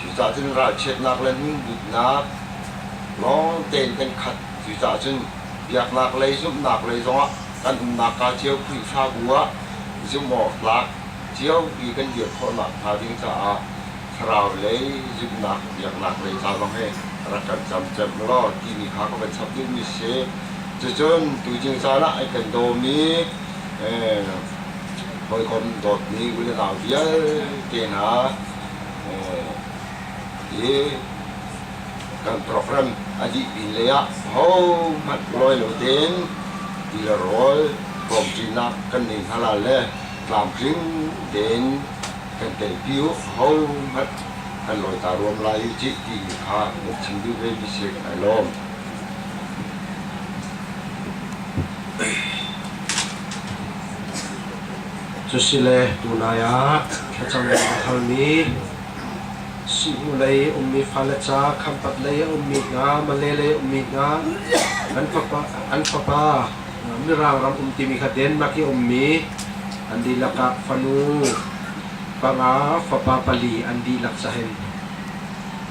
Cucaah cun ralchiatnak le hmunbutnak lawng tein kan khat. Cucaah cun biaknak lei zumhnak lei zongah kan umnak kaa cio Khrihfabu ah zumhawktlak ciopi kan dir khawh nakhnga ding caah thlarau lei zumhnak biaknak lei ca zong hi rak kan cam cem law timi kha ka van chap dingmi si. Cucun tujing caan ah kan dawm i hawikom dawtmi ulenau vialte hna i kan program a dih pin lei ah hohmanh lawi lo tein ti le rawl tlawmcinak kan nei hna lai le tlamtling tein kan telpi u hohmanh kan lawi ta ruam lai u cih ti kha kan chim duh ve mi si ai lawm. Cu si le tunai ah Thlacam in a halmi, sihnu lei a ummi fale ca, khampat lei a ummi hna, male lei a ummi hna, an fapa, an fapa Mirang ram um timi kha Denmark i ummi an dihlak ah fanu panga fapa pali an dihlak cahin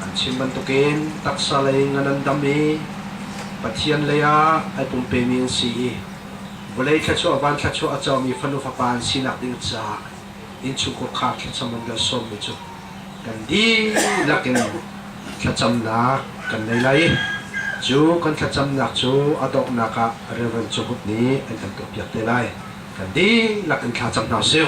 an chim bantukin taksa lei ngan an dam i Pathian lei ah ai pumpemi an si i vawlei thluachuah, van thluachuah a cawmi fanu fapa an sinak ding caah innchungkhar khar thlacam an kan sawmmi cu kan dihlak in thlacamnak kan nei lai i cu kan thlacamnak cu a donghnak ah Reverend Cunghup nih an kan tuahpiak te lai kan dihlak in thla cam hna sih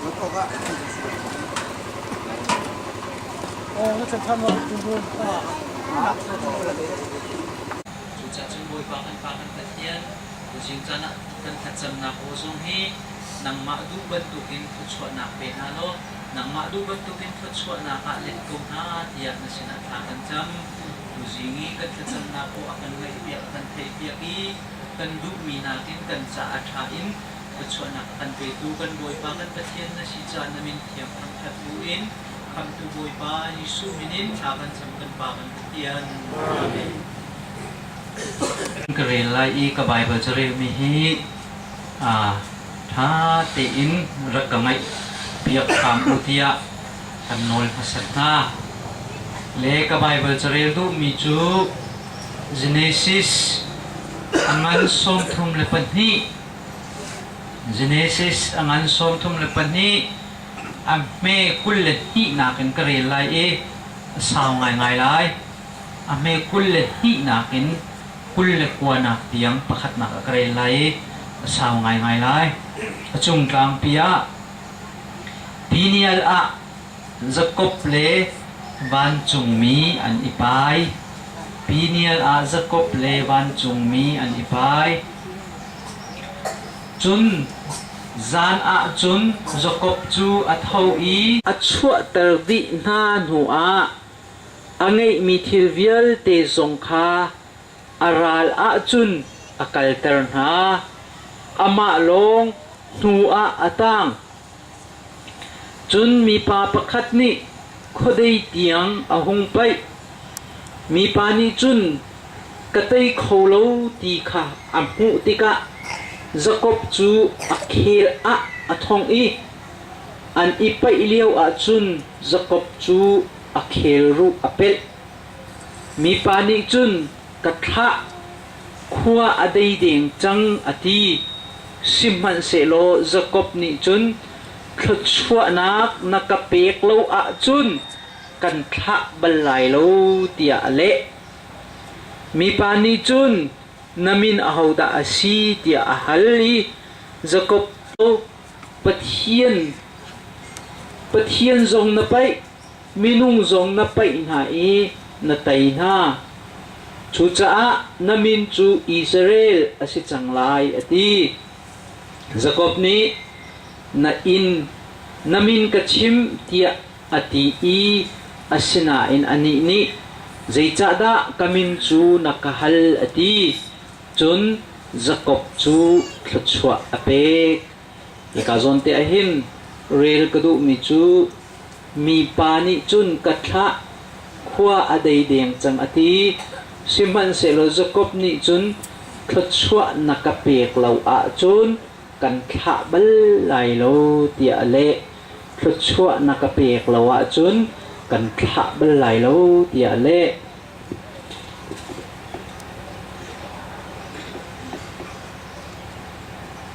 luat awkah thil a si lo. Oh, na chan wa tu tu. Cucacun Bawipa kan Pa kan Pathian, tuchin caan ah kan thlacamnak aw zong hi nangmah duh bantukin thluachuahnak pe hna law nangmah duh bantukin thluachuahnak ah let ko hna tiah na sinah thla kan cam. Tuzing i kan thlacamnak aw a kan ngaihpiak, a kan theihpiak i kan duhmi nakin kan caah ṭha in Thluachuahnak a kan petu kan Bawipa kan Pathian na si caan na min thiang thangṭhat buin Khamhtu Bawipa Jesuh minin thla kan cam kan Pa kan Pathian. Amen. Ka rel lai i ka Baibal ca relmi hi aa ṭha tein rak ka ngaih piak hram u tiah kan nawl hmasat hna. Le ka Baibal carel duhmi cu Genesis angan sawmthum le pahnih Genesis a ngan sawmthum le pahnih a hme kul le hnihnak in ka rel lai i a sau ngaingai lai. A hme kul le hnihnak in kul le kuanak tiang pakhatnak ah ka rel lai i a sau ngaingai lai. A cungtlangpi ah Daniel ah Jakob le vancungmi an i pai. Daniel ah Jakob le vancungmi an i pai. Cun zan ah cun Jakob cu a tho i a chuahter dih hna hnuah a ngeihmi thil vialte zong kha a ral ah cun a kalter hna. Amah lawng hnuah a tang. Cun mipa pakhat nih khuadei tiang a hung paih. Mipa nih cun, “Ka tei kho lo,” ti kha a hmuh tikah Jakob cu a khel ah a thong i an i paih lioah cun Jakob cu a khelruh a pelh. Mipa nih cun, Ka thlah, khua a dei deng cang, a ti. Sihmanhsehlaw Jakob nih cun, Thluachuahnak na ka pek lo ahcun kan thlah bal lai lo, tiah a leh. Mipa nih cun, Na min ahodah a si? tiah a hal i Jakob cu, Pathian, Pathian zong na paih, Minung zong na paih hna i na tei hna. Cucaah na min cu Israel a si cang lai, a ti. Jakob nih, Na inn na min ka chim, tiah a ti i asinain anih nih, Zeicahdah ka min cu na ka hal? a ti. Cun Jakob cu thluachuah a pek. Hika zawnte ah hin rel ka duhmi cu mipa nih cun ka thlah, khua a dei deng cang a ti. Sihmanhsehlaw Jakob nih cun thluachuah na ka pek lo ahcun kan thlah bal lai lo tiah a leh. Thluachuah na ka pek lo ahcun kan thlah bal lai lo tiah a leh.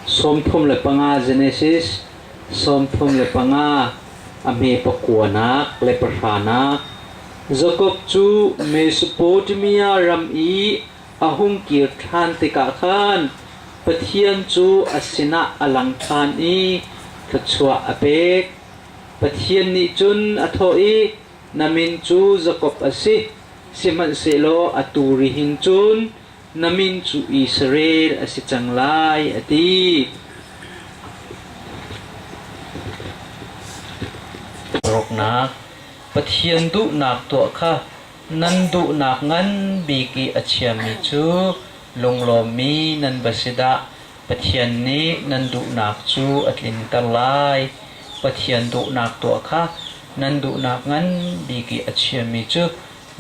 Sawmthum le panga Genesis sawmthum le panga a hme pakuanak le pahranak Jakob cu Mesopotamia ram i a hung kir ṭhan tikah khan Pathian cu a sinah a lang ṭhan i thluachuah a pek. Pathian nih cun a thawh i, Na min cu Jakob a si, sihmanhsehlaw atu rihin cun na min cu Israel a si cang lai, a ti. Rawknak, Pathian duhnak tuah kha nan duhnak ngan bik i a chiami cu lunglawmmi nan va si dah! Pathian nih nan duhnak cu a tlinter lai. Pathian duhnak tuah kha nan duhnak ngan bik i a chiami cu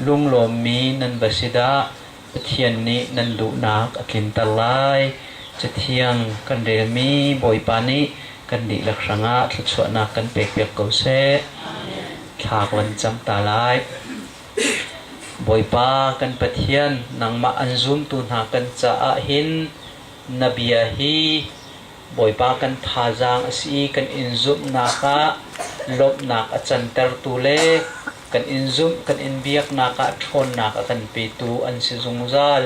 lunglawmmi nan va si dah! Pathian nih nan duhnak a tlinter lai. Cathiang kan relmi Bawipa nih kan dihlak hrangah thluachuahnak kan pekpiak ko seh. Thlak van cang ta lai. Bawipa kan Pathian, nangmah an zumtu hna kan caah hin Na bia hi Bawipa kan thazaang a si i kan in zumhnak ah lawmhnak a cantertu le kan in zumh kan in biaknak ah ṭhawnnak a kan petu an si zungzal.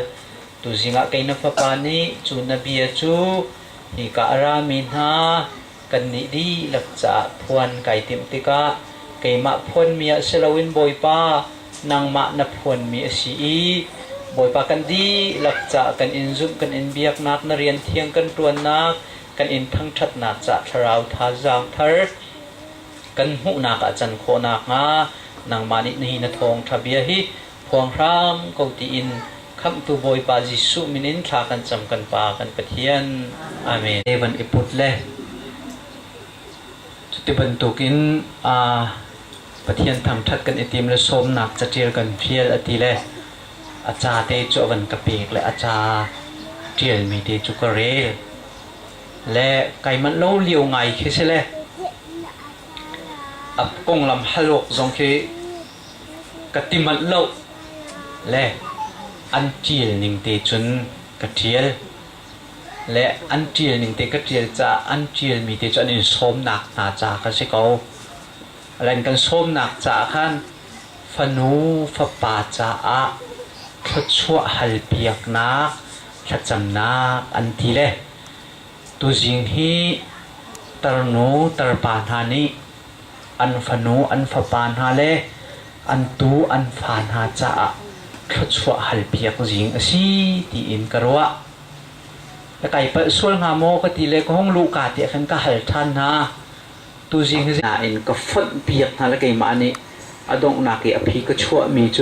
Tuzing ah kei na fapa nih cu na bia cu hika a rami hna kannih dihlak caah phuan kai timh tikah keimah phuanmi ah si loin Bawipa, nangmah na phuanmi a si i Bawipa kan dihlak caah kan in zumh, kan in biaknak, na rian thiang kan ṭuannak, kan in thangṭhatnak ca'h thlarau thazaang thar kan hmuhnak ah can khawh nakhnga nangmah nih nihin a thawngṭha bia hi Phuang hram ko tiin Khamhtu Bawipa Jesuh min in thla kan cam kan Pa kan Pathian. Amen. He van i put le cuti bantukin Pathian thangṭhat kan i tim le sawmnak caṭial kan fial a ti le a ca te cu a van ka pek le a ca ṭialmi te cu ka rel. Le kaimanh lo lio ngai khi si le a konglam hal awk zong khi Ka ti manh lo le an ṭial ning te cun ka ṭial le an ṭial ning te ka ṭial caah an ṭialmi te cu an in sawmnak hna ca ka si ko. Ran kan sawmnak caah khan fanu fapa caah thluachuah halpiaknak thlacamnak an ti le tuzing hi tarnu tarpa hna nih An fanu an fapa hna le an tu an fa hna caah thluachuah halpiak zing a si tiin ka ruah. Ka kai palh sual hnga maw ka ti le ka hung luh ka tiah khan ka hal ṭhan hna. Tuzing nain ka fonh piak hna le keimah nih a donghnak i a phi ka chuahmi cu